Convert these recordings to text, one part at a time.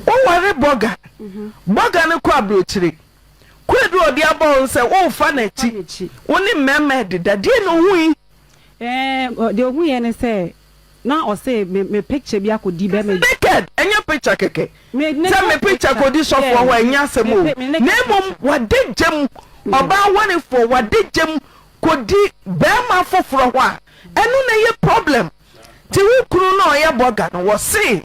Woware bɔga, bɔga no kɔ aburokyire. Kwadu a ɔde abɔ wo no sɛ worefa n'akyi, wo ne mmarima rededa. Deɛn na ɔhui? Ɛɛ, deɛ ɔhuiɛ ne sɛ, na ɔse me me picture bi akɔdi bɛrima bi. Naked, ɛnyɛ picture kɛkɛ. Sɛ me picture kɔdi sɔfoɔ hɔ a, ɛnyɛ asɛm o. Na mmom wade gya mu, ɔbaa warefoɔ wade gya mu kɔdi barima foforɔ hɔ a, ɛno na ɛyɛ problem. Nti wo kunu no a ɔyɛ bɔga no, wɔse.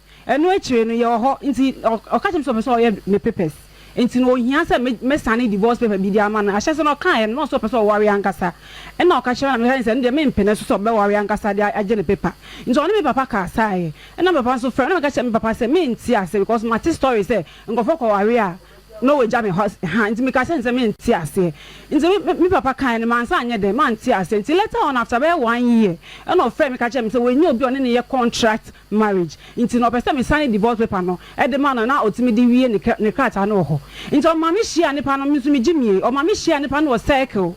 Ɛno akyire no yɛwɔ hɔ nti ɔka kyerɛ me sɛ ɔpɛ sɛ ɔyɛ me papers nti no ɔhia sɛ mɛ sane divorce paper bi de ama no. Ahyɛse no ɔkaeɛ no na ɔse ɔpɛ sɛ ɔware ankasa ɛna ɔka kyerɛ me sɛ ɛno deɛ mempene so sɛ ɔbɛware ankasa de agye ne paper nti ɔne me papa kasaeɛ ɛna me papa nso frɛ me na meka kyerɛ me papa sɛ mente ase because mate story sɛ nkurɔfoɔ kɔware a na wɔgya me ha nti meka kyerɛ no sɛ mente aseɛ nti me papa kaeɛ no mansa anyɛ dɛn mante aseɛ nti later on after bɛyɛ one year ɛna ɔfrɛ me ka kyerɛ me sɛ wanya obi a ɔne no yɛ contract marriage nti na ɔpɛ sɛ me sane divorce paper no de ma no na ɔtumi de wie ne ne krataa no wɔ hɔ nti ɔma me hyia nipa no me nso me gye mie ɔma me hyia nipa no wɔ circle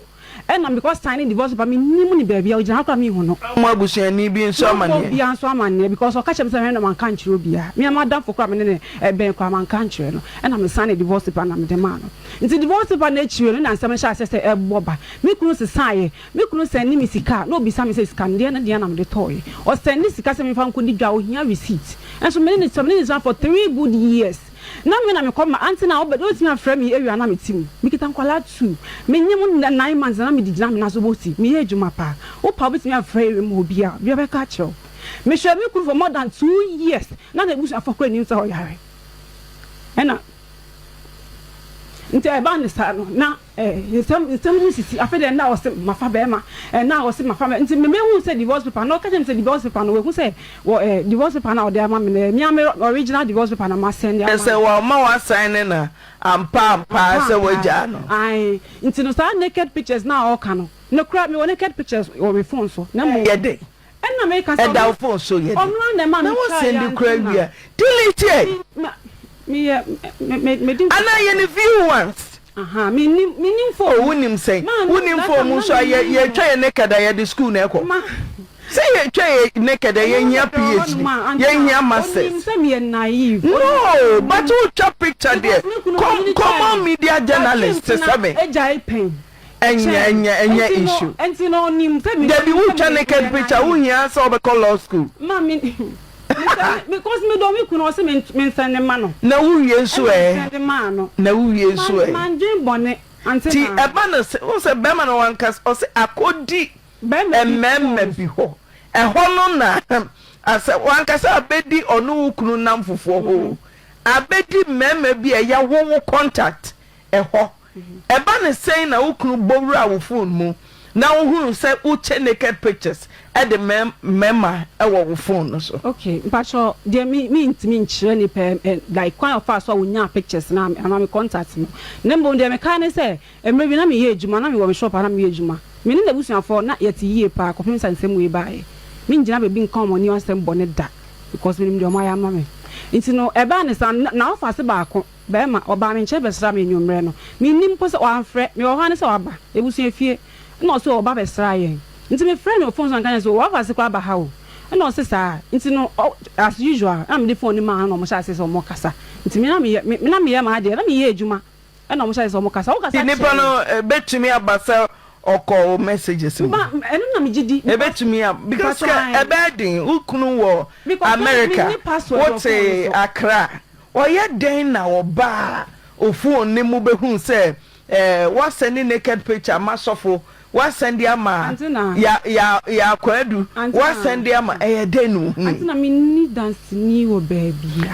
ɛna me kɔ sane divorce paper me nim no baabi a ɔgyina hɔ koraa me nhu no. Fa mo abusuani bi nso amaneɛ. Mɛbɔ obiara nso amaneɛ because ɔka kyerɛ me sɛ hwɛ na ma nka nkyerɛ obiara me ara m'adamfo koraa me ne no bɛn koraa ma nka nkyerɛ no ɛna me sane divorce paper no na me de maa no nti divorce paper no akyire no na nsɛm no hyɛ aseɛ sɛ ɛbɔ ba me kunu sesaeɛ Me kunu sɛnde me sika a, na obisa me sɛ, Sika no deɛ, ɛno deɛn na mede tɔeɛ? Ɔsɛnde sika sɛ memfa nkɔdi dwa a, ɔhia receipt. Nso me ne no tra, me ne no tra for three good years. Na me na mekɔ ma aunty no a ɔba no, ɔtumi afrɛ me awia na mete mu. Mekita nkwadaa two. Menyem wo nnɛ nine months na na mede gyina me nan so bɔ ti. Meyɛ adwuma pa. Wo paa bɛtumi afrɛ awia mu hɔ biara, obiara bɛka akyerɛ wo. Mehwɛɛ me kunu for more than two years, na n'abusuafoɔ koraa nnim sɛ ɔyare. Ɛna nti ɛbaa no saa no, na. Eh nsɛm nsɛm ho sisi afei deɛ na ɔse mafa bɛɛma eh na ɔse mafa bɛɛma nti me me hu sɛ divorce paper no ɔka kyerɛ me sɛ divorce paper no wahu sɛ wɔ eh divorce paper no a ɔde ama me no eh me ara me original divorce paper na ma sɛnde ama no. Kyɛsɛ wama wa sign ne na ampa ampa ara sɛ wagyaa no. Ae nti no saa naked pictures no a ɔka no no kora me wɔ naked pictures wɔ me phone so na mmom. Ɛyɛ dɛn ɛda wo phone so yɛ den na wo send koraa wie a delete ɛ anaa yɛ no view once oh wo nim sɛn wo nim phone mu nso a yɛ yɛ twa yɛ naked a yɛde school na ɛkɔ sɛ yɛ twa yɛ naked a yɛ hia phd yɛ hia masters no but wo twa picture deɛ com common media journalist sɛ me. Ɛnyɛ ɛnyɛ ɛnyɛ issue. Ɛnti no ɔnim sɛ mi. Dabi wo twa naked picture wo hia sɛ ɔbɛ kɔ law school. Ma me because me dɔ me kunu ɔse me me nsɛn ne ma no. Na wo wie nso ɛɛ. Ɛna me sɛn de maa no. Na wo wie nso ɛɛ. Ma ndwen bɔne ante naa. Ti ɛba no se wo sɛ bɛɛma no wankas ɔse akɔ di ɛmɛɛma bi hɔ ɛhɔ no na ahem asɛ wankasa abɛ di ɔno wo kunu nam fufuɔ hoo abɛ di mɛɛma bi a ɛyɛ wo wo contact ɛhɔ. Ɛba no sɛn na wo kunu bɔ wuraa wo fon mu na wohunu sɛ wokyɛ naked pictures de ma mmarima wɔ wo fon no so? Okay mpakyɛw deɛ me me ntumi nkyerɛ nipa ɛ like kwan a ɔfaa so a ɔnyaa pictures no ama me contact no na mmom deɛ mekae ne sɛ mmerɛ bi na meyɛ adwuma na mewɔ me shop a na meyɛ adwuma me ne n'abusuafoɔ na yɛte yie paa kɔpem sɛ nsɛm wei baeɛ mengyina baabi nka wɔn anim asɛm bɔne da because menim deɛ wɔayɛ ama me nti no ɛbaa ne saa na na ɔfa ase baako. Barima, ɔbaa me nkyɛn bɛsraa me anwummerɛ no. Mennim mpo sɛ wamfrɛ. Mewɔ hɔ ara ne sɛ waba abusua fie. Ɛna ɔse ɔreba abɛsra yɛn. Nti mefrɛɛ no wɔ fon so na meka kyerɛɛ no sɛ, 'O, w'afa ase koraa aba ha o. Ɛna ɔse saa. Nti no, as usual, ɛna mede fon no maa no na wɔhyɛɛ aseɛ sɛ wɔrekasa. Nti me na meyɛ, me na meyɛ m'adeɛ, na meyɛ adwuma. Ɛna wɔhyɛɛ aseɛ sɛ wɔrekasa. Wokasa Nti nipa kyerɛ no yɛn. bɛtumi aba sɛ ɔkɔ wo messages mu? Ma, ɛno no na megye di because, Ɛbɛtumi a, because mpakyɛw kɛ ae. ɛbɛyɛ den. Wo kunu wɔ Because me, America, menni password wɔ wote fon no so. Accra, Ɔyɛ dɛn na ɔbaa a ofuu no no mu behuu sɛ wɔasɛn ne naked picture ama sɔfo, wɔasɛn de ama Yaya Kwadu, wɔasɛn de ama Ɛyɛ dɛn na ohui?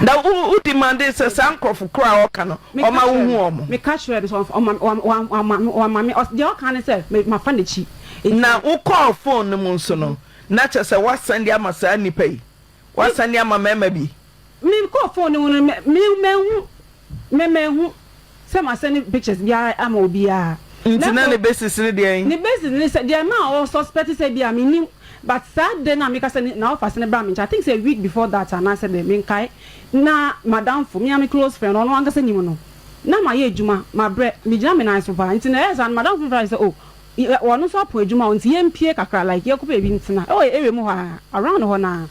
Na wo demandee sɛ saa nkurɔfo koro a ɔreka no, ɔma wuhu wɔn? Na wokɔɔ fon no mu nso no, na kyerɛ sɛ wɔasɛn de ama saa nnipa yi? W'asan de ama marima bi. Me kɔɔ phone no ho no me manhu me manhu sɛ m'asɛne pictures biara ama obiara. Nti na ne basis ne deɛn? Ne basis ne sɛ deɛ ɛma a ɔ suspect sɛ bia me nim but saa de no a meka sɛ ne na ɔfa asɛne baa me nkyɛn I think sɛ a week before that anaa sɛ dɛn menkae na m'adamfo me ara me close friend ɔno ankasa nim no na mayɛ adwuma mabrɛ megyina me nan so paa nti na ɛyɛ saa no m'adamfo no frɛ me sɛ oh Yɛ ɔno nso apo adwuma o nti yɛ mpie kakra like yɛ kɔ baabi ntena ɛwɔ yɛ area mu hɔ aa around hɔ naa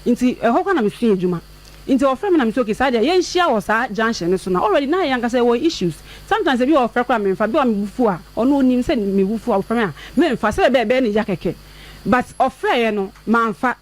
nti ɛhɔ kora na me sua adwuma nti ɔfrɛ me na me se okay saa deɛ yɛ nhyia wɔ saa junction no so na already na yɛ ankasa yɛwɔ issues sometimes ebi ɔfrɛ kora me nfa bi a me bo fu a ɔno ɔnim sɛ me bo fu a ɔfrɛ me a me nfa sɛdeɛ ɛbɛyɛ ɛbɛyɛ ne ya kɛkɛ but ɔfrɛɛ yɛ no ma nfa.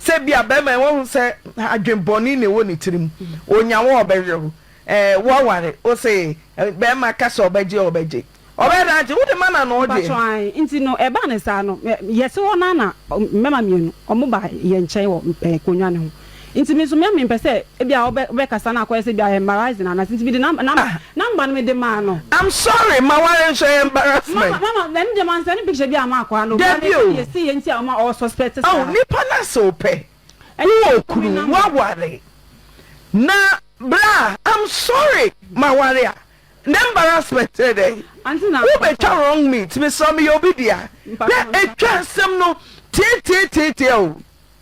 Sɛ ebia barima yi wahu sɛ adwene bɔne na ɛwɔ ne tirim, ɔnya wo a ɔbɛyere wo. Eh, woaware, wose barima ka sɛ ɔbɛgye a ɔbɛgye. Ɔbɛyɛ dɛn agye? Wode ma no anaa ɔgye? Mpakyɛw, ae. Nti no, ɛbaa no saa no, me, yɛte hɔ no ara na mmarima mmienu, wɔbaa yɛn nkyɛn wɔ eh, nkonnwa no ho. Nti me nso, me a mempɛ sɛ ebia wobɛ, wobɛkasa na akɔyɛ sɛ ebia ɛyɛ embarrassing anaasɛ, nti mede nam, nam. Ah, Number no me de maa no. I'm sorry maware nso ɛyɛ embarrassment. Mama mama ɛno deɛ man sɛne picture bi ama akwaa no but meka deɛ ɛsiiɛ nti a ɔma ɔɔ suspect saa. Oh nipa no ase wopɛ wowɔ okunu woaware na bra I'm sorry maware a na embarrassment ne dɛn wobɛtwa wrong meat mesrɛ meyɛ obi dea na ɛtwa asɛm no teeteeteetea o.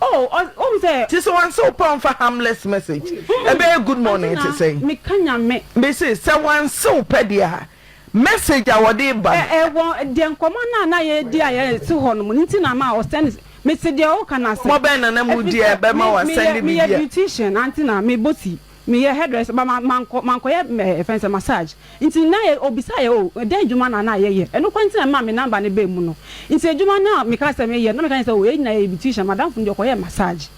Oh ɔs wohu sɛ. Nti sɛ wanse wo paw mfa harmless message ɛbɛyɛ good morning te sɛn? Ɔse na meka Nyame. Mese sɛ wanse wo pɛ deɛ a message a wɔde reba no. Ɛ wɔ deɛ nkɔmmɔ no a na yɛredi a yɛte hɔ nom no nti na ama ɔ send mese deɛ woka no ase. Nkɔmmɔ bɛn na na moredi a ɛbɛma wa send biribi a. Meyɛ beautician ante na mebɔ ti. Meyɛ hairdresser but ma mankɔ mankɔ yɛ mɛ yɛfrɛ no sɛ massage nti na yɛ ɔbisaa yɛ oh dɛn adwuma na na yɛyɛ ɛno koraa nti na ɛmaa me number no baa mu no nti adwuma no a mekaa sɛ meyɛ no na meka kyerɛ no sɛ oh yɛn nyinaa yɛyɛ beautician madamfo no deɛ ɔkɔyɛɛ massage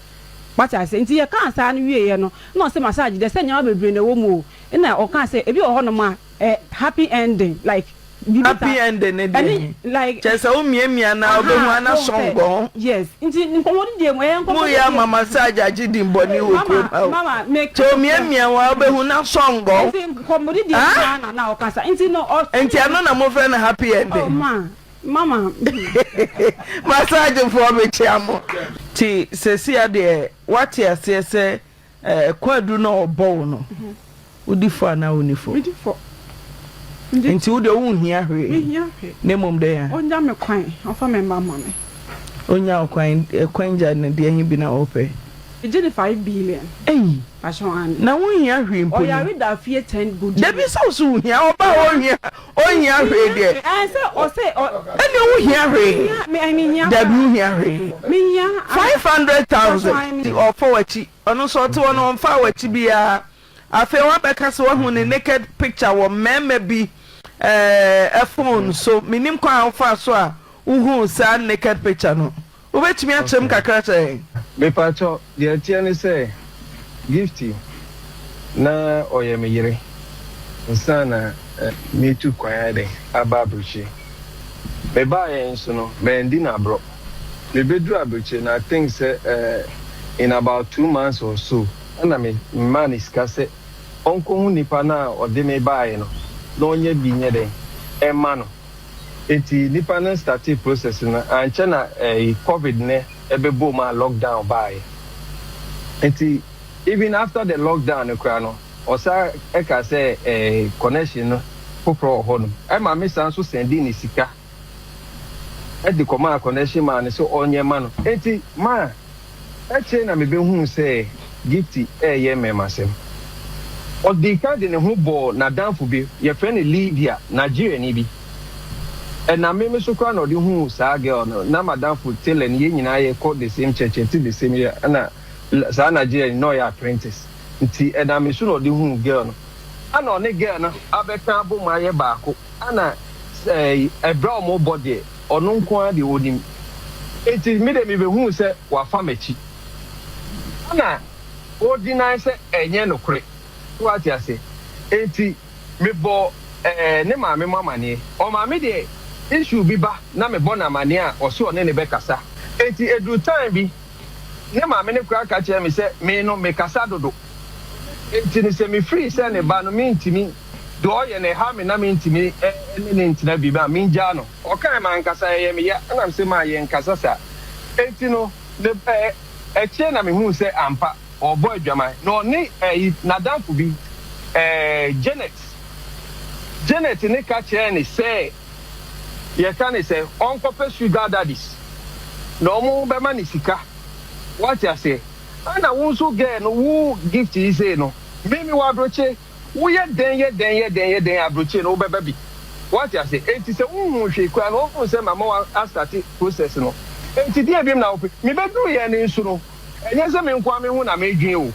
wate aseɛ nti yɛkaa saa no wieeɛ no na ɔse massage deɛ sɛ nneɛma bebree na ɛwɔ mu o ɛna ɔkaa sɛ ebi wɔ hɔnom a Eh happy ending like biribi saa. Happy ending ne deɛ he? Like kyerɛ sɛ wo miamia no a wobɛhu a na sɔngɔ ho. Yes nti nkɔmmɔdi deɛ mu ɛyɛ nkɔmmɔdi deɛ. Moyɛ ama massage agye dimmɔne wɔ kurom ha o. Mama mama meka kyerɛ wo. Sɛ omiamia wo a wobɛhu na sɔngɔ. Nti nkɔmmɔdi deɛ mu saa na na ɔkasa nti no ɔ. Nti ɛno na mofrɛ no happy ending. Oh ma mama. Massage foɔ mekyea mo. Nti sesia deɛ woate aseɛ sɛ Ɛɛ kwaadu na ɔbɔ wo no wodi fɔ anaa wonni fɔ? Medi fɔ. Nti wo deɛ wonhia hwee? Menhia hwee. Na mmom dɛn a? Ɔnya me kwan, ɔmfa me mma mma me. Ɔnya wo kwan, kwan gya no deɛ he bi na wopɛ? Megye no five billion. Ei! Pakyɛ wo aane. Na wonhia hwee mpo ni? Ɔyare da fie ten good years. Dabi sɛ wo so wohia, ɔbaa a ɔnhia Ɔnhia hwee deɛ. Ɛnneɛ wohia hwee? Dabi wohia hwee. Five hundred thousand nti ɔɔfa w'akyi. Ɔno nso ɔte hɔ no ɔmfaa w'akyi biara. Afei woabɛka sɛ woahu ne naked picture wɔ mmarima bi ɛɛ phone so. Mennim kwan a wofaa so a wohuu saa naked picture no. Wobɛtumi akyerɛ mu kakra sɛn? Mepakyɛw, deɛ ɛteɛ ne sɛ Gifty na ɔyɛ me yere ansa na metu kwan ayɛ dɛn, aba Abirekyie. Mebaeɛ nso no, mandi no aborɔ. Mebɛduruu Abirekyie no, I think sɛ in about two months or so, ɛna memaa no sika sɛ ɔnkɔhu nipa no a ɔde me baeɛ no na ɔnyɛ bi nyɛ dɛn, ɛmma no. Enti nipa no startee process no ankyɛ na ɛyi covid nɛ ɛbɛbɔɔ mu a lock down baaɛ. Enti even after the lock down no koraa no ɔsan ɛkaa sɛ ɛɛ connection no foforɔ wɔ hɔ nom. Ɛma me san nso sɛndee no sika ɛde kɔmaa connection man no sɛ ɔnyɛ ma no. Enti ma. Akyire na mebɛhuu sɛ Gift reyɛ mmɛmasɛm. Ɔdii kan de ne ho bɔɔ n'adamfo bi, yɛfrɛ no Lydia, Nigeriani bi. Ɛname me so koraa na ɔde huu saa girl no. Na m'adamfo tailor ni, yɛn nyinaa yɛkɔ the same church, yɛte the same area, ɛna saa Nigeriani no, na ɔyɛ apprentice. Nti ɛnam me so na ɔde huu girl no. Ɛna ɔne girl no abɛka abom ayɛ baako. Ɛna ɛberɛ a wɔrebɔ deɛ. Ɔno nko ara de onim. Enti me de mibehuu sɛ wafa m'akyi. Ɛnna odinae sɛ ɛnyɛ nokore. So woate ase? Enti mebɔɔ ɛɛ ne maame mu amanneɛ. Ɔmaame deɛ issue bi ba na mebɔ no amanneɛ a, ɔse ɔne no bɛkasa. Enti eduu time bi, ne maame no koraa ka kyerɛɛ me sɛ me no mekasa dodo. Enti no, sɛ mifii sɛ ne ba no, mintumi, do ɔyɛ na ɛhaw me na mintumi ne no ntsena bi a, mingyaa no. Ɔkãe ma ankasa ɛyɛ me ya, nna mese ma yɛnnkasa saa. Enti no, akyire na mehuu sɛ ampa, ɔrebɔ adwaman, na ɔne n'adamfo bi, Janet. Janet ne ka kyerɛɛ no sɛ yɛka no sɛ ɔnkɔpɛ sugar daddies na wɔbɛma no sika. Woate aseɛ? Ana wo nso girl no wo gift yi sei no meme wo abrokye woyɛ dɛn yɛ dɛn yɛ dɛn yɛ dɛn abrokye no wo bɛba bi wate ase enti sɛ wo hu hwee koraa no wo hu sɛ mama wo a start process no enti deɛ biom na wo pɛ me bɛ duru yɛ no nso no ɛnyɛ sɛ me nkoa me ho na me dwen o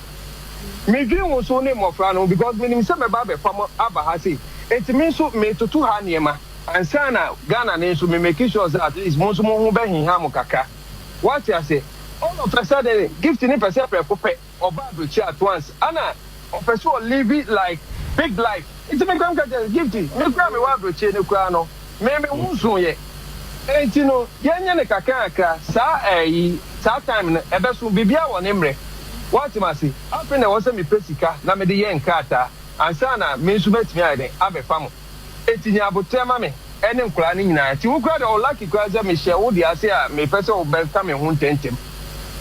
me dwen wo so ne mmɔfra no ho because me nim sɛ mɛba abɛfa mo aba ha sei enti me nso me toto ha nneɛma ansa na Ghana no nso me make sure sɛ at least mo nso mo ho bɛ heha mo kakra. Wate ase? All of a sudden Gift no pɛsɛ prɛko pɛ ɔba abrokyi at once ɛna ɔpɛ sɛ ɔ live like big life nti me koraa me ka kyerɛ no Gift me koraa me wɔ abrokyie no koraa no me me ho nso yɛ nti no yɛn nyɛ no kakra kakra saa ɛyi saa time no ɛbɛso biribiara wɔ ne mmerɛ wate ma se afei na ɛwɔ sɛ me pɛ sika na me de yɛ nkrataa ansa na me nso mɛtumi ayɛ dɛn abɛfa mo. Enti nya aboterɛ ma me ne nkwadaa no nyinaa. Enti wo koraa deɛ, ɔlucky koraa sɛ mehyɛ wo deɛ ase a mepɛ sɛ wobɛka me ho ntɛntɛm.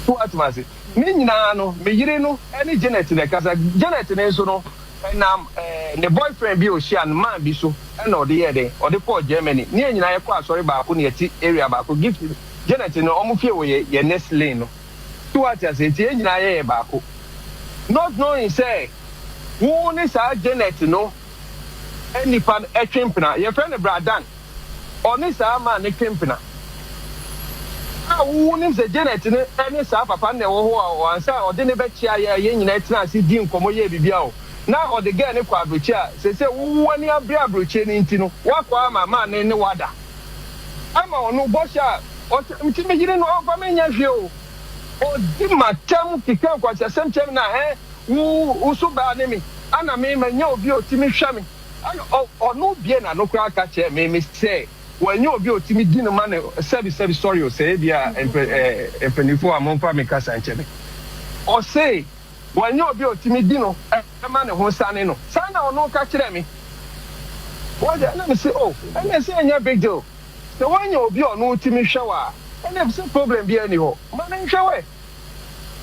So woate me ase? Ne nyinaa no, me yere no ne Janet na ɛkasa. Janet no nso no, ɛnam ne boyfriend bi a ɔhyia no man bi so na ɔde yɛɛ dɛn? Ɔde kɔɔ Germany. Ne yɛn nyinaa yɛkɔɔ asɔre baako na yɛte area baako. Gift, Janet no, wɔn fie wɔ yɛn yɛn next lane no. So woate ase? Enti yɛn nyinaa yɛyɛ baako. Not knowing sɛ wo ne saa Janet no. nnipa no twe mpena. Yɛfrɛ no Bra Dan. Ɔne saa man no twe mpena. A wonim sɛ Janet no ne saa papa no na ɛwɔ hɔ a, ansa a ɔde no bɛkyea yɛn a yɛn nyinaa tenaa ase dii nkɔmmɔ yɛɛ biribiara o, na ɔde gɛɛ no kɔɔ aburokyire a seesei wo wo ani abere aburokyire no nti no, woakɔ ama man no ne wo ada. Ama ɔno bɔhyɛ a ɔhyɛ nti me yere no ɔmfa me nyɛ hwee o. Ɔdi m'atam keka nkwaseasɛm kyerɛ me na ɛɛ Wo wo so baa ne me ana me ma nya obi otimi hwɛ me ana ɔ ɔno bie na no koraa ka kyerɛ me me sɛ wa nya obi otimi di no ma no sɛbi sɛbi sorry o sɛ ebia mpɛ eh mpanyinfoɔ a monfa me kasa nkyɛ me ɔse wa nya obi otimi di no eh ma ne ho sane no saa na ɔno ka kyerɛ me wate ɛna me se oh ɛna ɛsɛ ɛnyɛ big deal sɛ wa nya obi ɔno otimi hwɛ wa a ɛna ɛfisɛ problem biara ni hɔ ma no nhwɛ wɛ.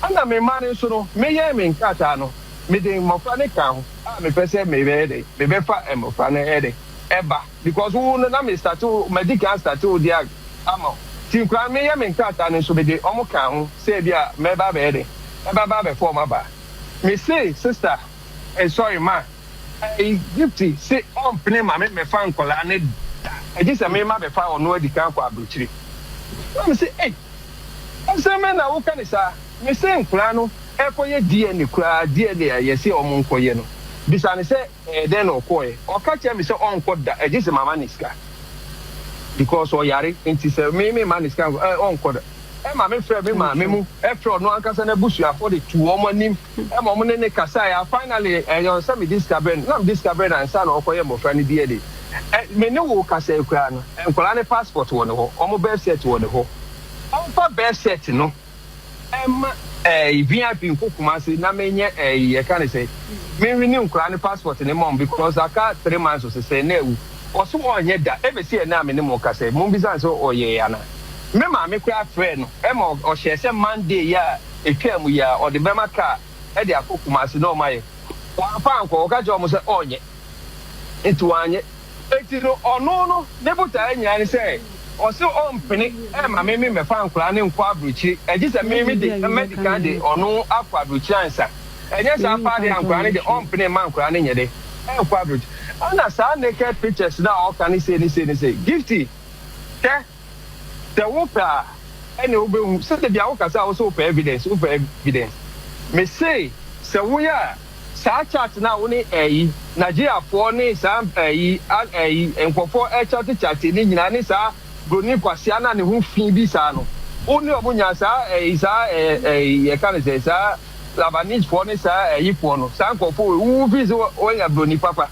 Ɛnna memaa no nso no, meyɛn me nkrataa no, mede mmɔfra no kaa ho a mepɛ sɛ mebɛyɛ dɛn, mebɛfa mmɔfra no ɛyɛ dɛn, ɛba, because wo no na me starte wo, madi kan astarte wo deɛ anka ama wo, nti nkoraa no meyɛ me nkrataa no nso mede wɔn kaa ho sɛ ebia mɛba abɛyɛ dɛn, mɛba abɛfa wɔn aba. Mesee sister, eh, sorry, ma. Gypsy se ɔmpene Maame mmɛfa nkwadaa no da, gye sɛ mema bɛfa ɔno adi kan kɔ abrokyire. Maame no se, Ei! Asɛm bɛn na woka no saa? Mese nkwadaa no ɛkɔyɛ DNA koraa, DNA a yɛse wɔn nkɔyɛ no. Bisa no sɛ ɛyɛ dɛn na ɔkɔɔɛ. Ɔka kyerɛɛ me sɛ ɔnkɔ da, gye sɛ mama no sika because ɔyare nti, sɛ me memma no sika a, ɔnkɔ da. Maame frɛɛ me maame mu frɛɛ ɔno ankasa n'abusuafo de tu wɔn anim ma wɔn ne ne kasae a finally ɛyɛ ɔnsɛ me di sika brɛ no na me di sika brɛ no ansa na ɔkɔyɛ mmɔfra no bi ade me ne wo kasae koraa no nkwadaa no passport wɔ ne hɔ wɔn birth cert wɔ ne hɔ ɔmfa birth cert no ɛma ɛɛ vip nko kumase na me nyɛ ɛɛ yɛ ka ne sɛ me nwi ne nkwadaa no passport ne mom because aka three months ɔsɛ sɛ na ewu. Ɔse ɔnyɛ da, ebesi ɛnɛ a me ne mo kasa yi, mo bisa no sɛ ɔyɛɛ anaa? Me maame koraa frɛɛ no ma ɔhyɛɛ sɛ Monday yi a etwaa mu yi ara ɔde bɛma car de akɔ Kumasi na ɔmayɛ. Wamfa ankɔ, ɔka kyerɛɛ wɔn sɛ ɔnyɛ, nti wanyɛ. Nti no ɔno no ne botaeɛ nyinaa ne sɛ ɔse ɔmpene mma me me mmɛfa nkwadaa no nkɔ aburokyire, gyesɛ me me de mɛdikan de ɔno akɔ aburokyire ansa. Ɛnyɛ saa paa deɛ ankoraa no deɛ ɔmpene mma ankoraa no nyɛ dɛn nkɔ abrogya ɛna saa naked pictures no a ɔka ne sei ne sei ne sei Gifty hwɛ sɛ wo pɛ a ɛne wo bɛ hu sɛ da bi a wo kasa a wo sɛ wo pɛ evidence wo pɛ evidence me se sɛ wo yɛ a saa chat no a wo ne ɛyi Nigeria foɔ ne saa ɛyi ɛyi nkorɔfoɔ ɛkyate kyate ne nyinaa ne saa broni kwasea no a ne ho fii bi saa no wo ne ɔmo nya saa ɛyi saa ɛyi yɛka ne sɛ saa. Labanisfoɔ ne saa Ayifoɔ no, saa nkorɔfoɔ wei, wowuwu firi sɛ woanya broni papa.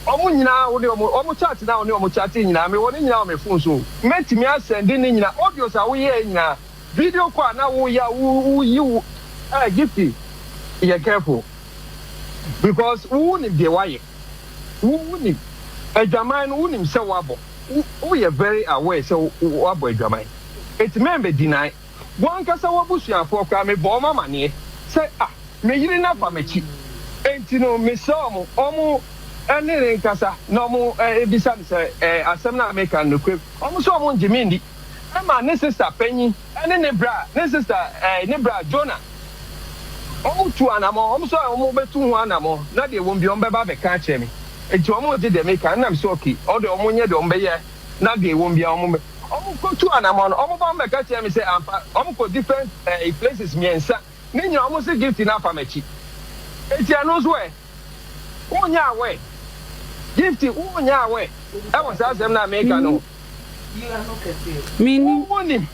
Wɔn nyinaa wode wɔn, wɔn chat no a wone wɔn chatee nyinaa, mewɔ ne nyinaa wɔ me phone so o. Mɛtumi asɛnde ne nyinaa, audios a woyɛɛ nyinaa, video call a na woyɛ a woyi wo, ah Gifty, yɛ careful because wonim deɛ woayɛ, wo, wonim adwaman no, wonim sɛ woabɔ, wo, woyɛ very aware sɛ woabɔ adwaman, enti mɛmmɛ deny. Wɔn ankasa wɔn abusuafoɔ koraa mebɔɔ wɔn amaneɛ sɛ ah me yere no afa m'akyi. Enti no mesrɛ wɔn wɔn ne no nkasa na wɔn bisa no sɛ eh asɛm no a meka no nokorɛ mu. Wɔn nso wɔn ngye me nni. Emma ne sista panyin ne ne bra ne sista eh ne bra Jonah wɔn tuu anamɔn. Wɔn nso wɔn bɛtu ho anamɔn na deɛ wɔn bi wɔn bɛba abɛka akyerɛ me. Enti wɔn ngye deɛ meka no na mesɛ okay wɔn deɛ wɔn nyɛ deɛ wɔn bɛyɛ. na dee wɔn biaa wɔn bɛ wɔn kɔ tu anamɔn no wɔn ba wɔn bɛka kyerɛ me sɛ ampa wɔn kɔ different ɛɛ places mmiɛnsa ne nyinaa wɔn se gift no afa m'akyi eti ɛno nso ɛ wɔn nyɛ aware gift wɔn nyɛ aware ɛwɔ saa asɛm no a meka no ho wɔn wɔn nim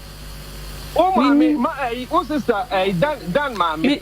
wɔn maame ma ɛyi wɔn sister ɛyi dan dan maame.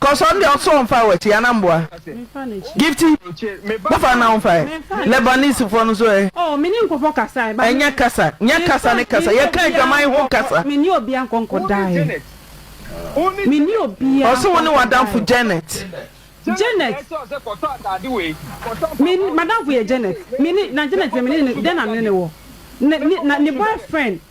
Kɔsɔ ndeɛ ɔsɔ ɔnfa wɔ akyi ana mboa Gifty bofa na ɔnfa ɛ Lebanese foɔ no so ɛ ɛnyɛ kasa nyɛ kasa ne kasa yɛ ka adwaman ho kasa ɔse wo ne wadanfo Janet.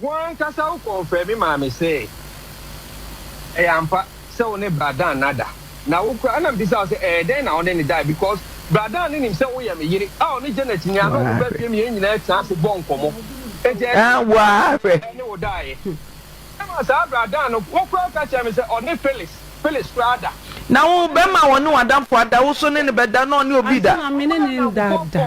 Wo ankasa wo kɔnfrɛɛ me maa me see ɛyɛ ampa sɛ wo ne Bra Dan nada. Na wo koraa na mbisaa wo sɛ ɛyɛ dɛn na wo ne no dae because Bra Dan no nim sɛ wo yɛ me yere a ɔne Janet nua no ɔmo baa fie no yɛn nyinaa tena ase bɔɔ nkɔmɔ. Enti ɛyɛ dɛn na wo ne Bra Dan ne wo daeɛ? Ɛma saa Bra Dan no wo koraa ka kyerɛɛ me sɛ ɔne Phyllis, Phyllis, koraa ada. Na wo bɛma ɔne w'adamfo ada, wo nso ne no bɛda na ɔne obi da. Ansa na me ne no nda da.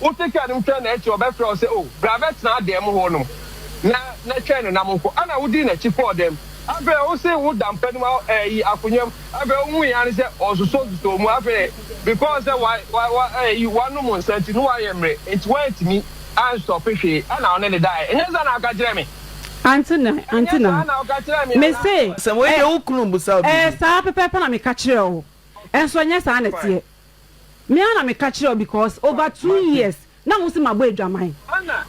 Wote kar no mu twɛn no akyi a, ɔbɛfrɛ wo sɛ, 'O, bra bɛtena adan mu hɔnom, na, na twɛn no na monkɔ. Ɛnna wodii n'akyi kɔɔ dan mu. Afei deɛ, wose woda mpa no mu a, ayi, akonnwa mu. Afei wohui ara ne sɛ ɔsosɔsosɔɔ mu. Afei deɛ, because sɛ wa, wa, wa, ayi, wanom nsa nti, na wayɛ mmerɛ, enti wantumi anstɔpe hwee. Ɛnna ɔne no daeɛ. Ɛnyɛ saa na woka kyerɛɛ me? Ante na, ante na. Ɛnyɛ saa na woka kyerɛɛ me anaa? Mese, Asɛm wei Ɛ, deɛ wo kunu mmisa wo ɛyɛ biribi. saa pɛpɛɛpɛ na meka kyerɛɛ wo. Nso ɛnyɛ saa na ɛteɛ. Me ara na me ka kyerɛ wo because over two years na wo se mabɔ adwaman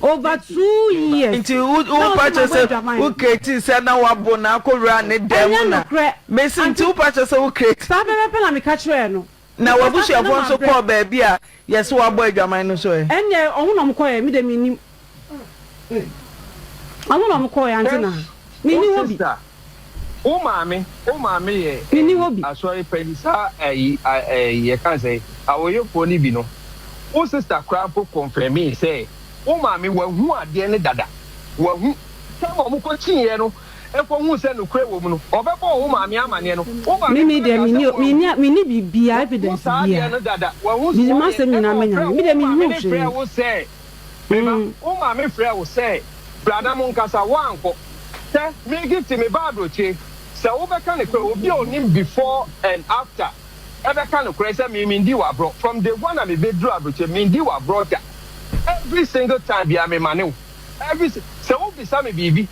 over two years Nti wo wo na wo pa se kyerɛ mabɔ sɛ adwaman wo create sɛ na wabo na akɔ wura ne dan mu Ɛnyɛ na nokorɛ me se nti wo Auntie pa kyerɛ sɛ wo create saa pɛpɛpɛ na me ka kyerɛɛ no na because asɛ na wabusuafoɔ nso mabrɛ. kɔɔ baabi a yɛse wabɔ adwaman no nso ɛ? Ɛnneɛ ɔmo na ɔmo kɔɛ me deɛ me nnim. Ɔno na ɔmo kɔɔ yɛ ante na mi ni hɔ bi. Wo maame wo maame yɛ ɛyi asɔre panyin saa ɛyi ɛyi yɛ kan sɛ awoyefoɔ ni bi no wo sista koraa mpo kɔnfɛmii sɛ wo maame wahu adeɛ ne dada wahu sɛ ma ɔmo kɔ kyi yɛ no ɛkɔ hu sɛ nukurɛ wɔ mu no ɔbɛ bɔɔ wo maame amaneɛ no wo maame koraa kaa sɛ wahu mi ni mi ni bibia evidence bia mi ni ma sɛ mi na mi nya mi ni mi ni hu hwee. Me ba, wo maame frɛɛ wo sɛ bra na monkasa, woankɔ. Hwɛ, Maggie te me ba aburokyi, sɛ wobɛka nokorɛ, obi a ɔnim before and after ɛbɛka nokorɛ sɛ me mendi wo aborɔ, from day one a mebɛduru aburokyi, mendi wo aborɔ da, every single time biara memane wo, every si, sɛ wobisa me biribi.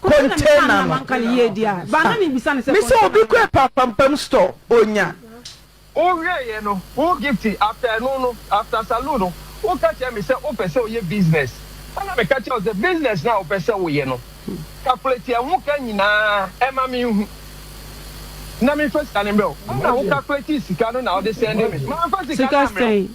container no me sɛ obi kɔ apapampam store onya. Wo hwɛ yɛ no wo gifty after ɛno no after saloon no wo ka kyerɛ me sɛ wo pɛ sɛ ɔyɛ business ɛna me ka kyerɛ wo sɛ business no a wo pɛ sɛ wo yɛ no calculate ɛho ka nyinaa ɛma me nhu na me nfa sika no mbrɛ wo ɛna wo calculate sika no na wo de sɛnde me ma nfa sika no amrɛ wo.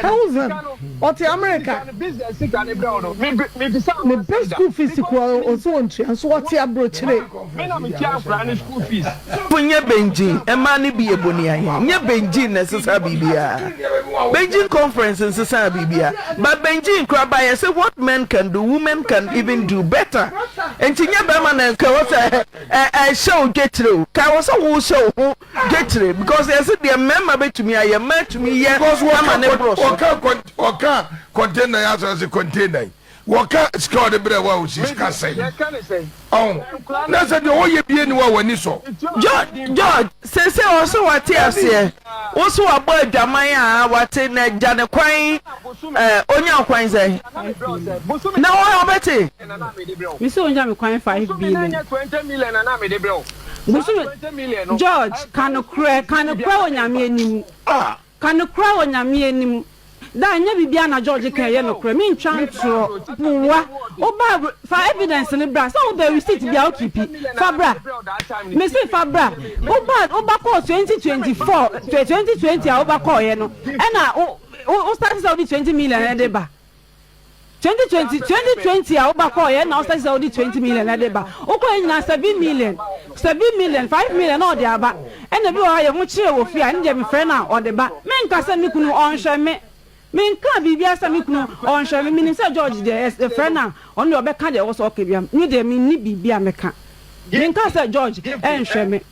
Townsend, ɔte Amerika. Mebɛ school fees koraa no ɔse ɔntua nso ɔte abrokyire. Fo nyɛ Beijing mmaa no bi yɛ boniayɛ nyɛ Beijing na ɛsesaa biribiara Beijing conference nsesaa biribiara but Beijing koraa ba yɛse what men can do women can even do better nti nyɛ bɛrima na nka ɛwɔ sɛ ɛhyɛ wo dwekyire o ka ɛwɔ sɛ wo hyɛ wo ho Gekyire because yɛse deɛ mmarima bɛtumi ayɛ mmaa tumi yɛ ama ne boro so. Wɔka container yi asɔre se container yi wɔka sika ɔde brɛ wo a osi sika sɛn ɔho na sɛ deɛ ɔyɛ bie ni wo a w'ani sɔ. George George sese ɔso wate aseɛ woso wabɔ adwaman a wate na gya ne kwan ɛɛ onya kwan sɛn na wɔn abɛte. Mese onya me kwan five billion. Bosome George ka nokorɛ ka nokorɛ wɔ nyame anim ka nokorɛ wɔ nyame anim daa ɛnyɛ biribiara na George ka ɛyɛ nokorɛ me ntwa ntorɔ boa wo ba fa evidence no bra sɛ wo bɛ receipt bia wo keepi fa bra me se fa bra wo ba wo ba kɔɔ 2024 2020 a wo ba kɔɔyɛ no ɛna wo wo start sɛ wo de 20 million ɛde ba. 2020 2020 a woba kɔɔyɛ na wosɛ sɛ wode 20 million ɛde ba wokɔɔyɛ nyinaa 7 million 7 million 5 million na ɔde aba ɛna bi wɔ hɔ yɛ ho kyerɛ wɔ fie a ɛne deɛ me frɛ no a ɔde ba me nka sɛ me kunu ɔnhwɛ me me nka biribia sɛ me kunu ɔnhwɛ me menim sɛ George deɛ yɛ yɛ frɛ no a ɔno deɛ ɔbɛka deɛ ɛwɔ sɛ ɔka biam me deɛ menni biribia meka me nka sɛ George ɛnhwɛ me.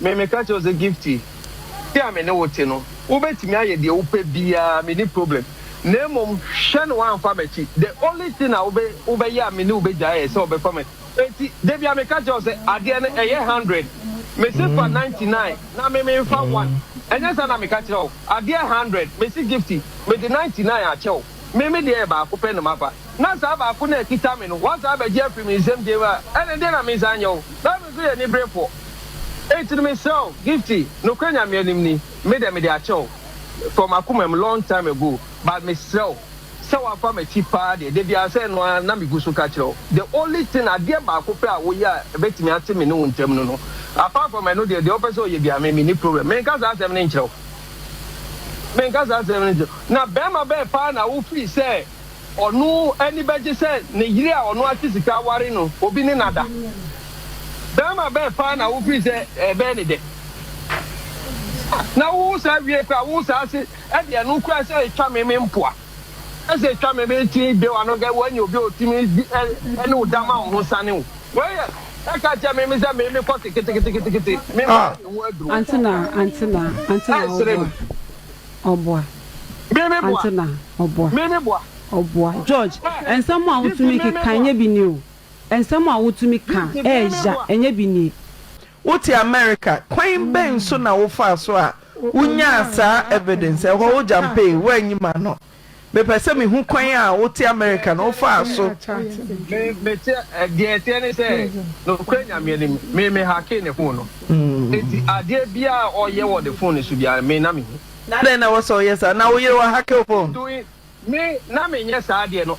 Me, meka kyerɛ wo sɛ, Gifty, te a me ne wo te no, wobɛtumi ayɛ deɛ wopɛ biara, menni problem. Na mmom, hwɛ na woamfa m'akyi. The only thing a wobɛ, wobɛyɛ a me ne wo bɛgyae yɛ sɛ wobɛfa m'akyi. Enti, da bi ara meka kyerɛ wo sɛ, adeɛ no, ɛyɛ hundred. Mese fa ninety nine, na me, memfa one. Ɛnyɛ saa na meka kyerɛ wo? Adeɛ hundred, mese, Gifty, mede ninety nine akyɛ wo. Me, me deɛ yɛ baako pɛ na mafa. na saa baako no a ɛkita me no, woasan abɛgye afiri me nsam dɛm a, ɛnde deɛn na mensan nyɛ wo? Bible nso yɛ aniberefoɔ. Enti no mesrɛ wo, Gifty, nokorɛ Nyame anim ni, me deɛ mede akyɛ wo from akoma mu long time ago, but mesrɛ wo, sɛ woafa m'akyi paa deɛ, da biara sɛ ɛno ara na megu so ka kyerɛ wo, the only thing, adeɛ baako pɛ a woyɛ a ɛbɛtumi ate me ne wo ntam no no, apart from ɛno deɛ, deɛ wopɛ sɛ ɔyɛ biara me, menni problem. Menka saa asɛm no nkyerɛ wo. Menka saa asɛm no nkyerɛ wo. Na barima bɛn paa na wofiri sɛ. Ɔno ani bɛgye sɛ ne yere a ɔno ate sika ware no obi ne no ada. Barima bɛn paa na wofii sɛ ɛbɛyɛ ne dɛ? Na wowo saa wiei koraa wowo saa se ɛde ɛno koraa sɛ etwa me me mpoa ɛsɛ etwa me me ti de wa no kɛ woanya obi a otumi di ɛ ɛne wo da ma wo ho sane wo wei yɛ ɛka kyerɛ me me sɛ me me kɔ se keteketeketekete me mma ne ho aduro. Antenaa antenaa antenaa ɔboa. Ɔboa. Me me boa. Ante na ɔboa. Me me boa. Ɔboa. George, nsɛm a wotumi keka nyɛ bi ni o. Nsɛm a wotumi ka ɛɛya nyɛ bi nie. Wote America, kwan bɛn so na wofaa so a wonyaa saa evidence? Ɛhɔ wo gyampee, woanyi m'ano. Mepɛ sɛ mehu kwan a wote Amerika no wofaa so. Me, mete, deɛ ɛteɛ ne sɛ, nokorɛ Nyame anim, me, me hakee ne fon no. Enti adeɛ biara a ɔyɛ wɔ ne fon no so biara, me na mehu. Adɛn na ɛwɔ sɛ woyɛ saa? Na wo yere wahake wo fon? Me, na menyɛ saa deɛ no.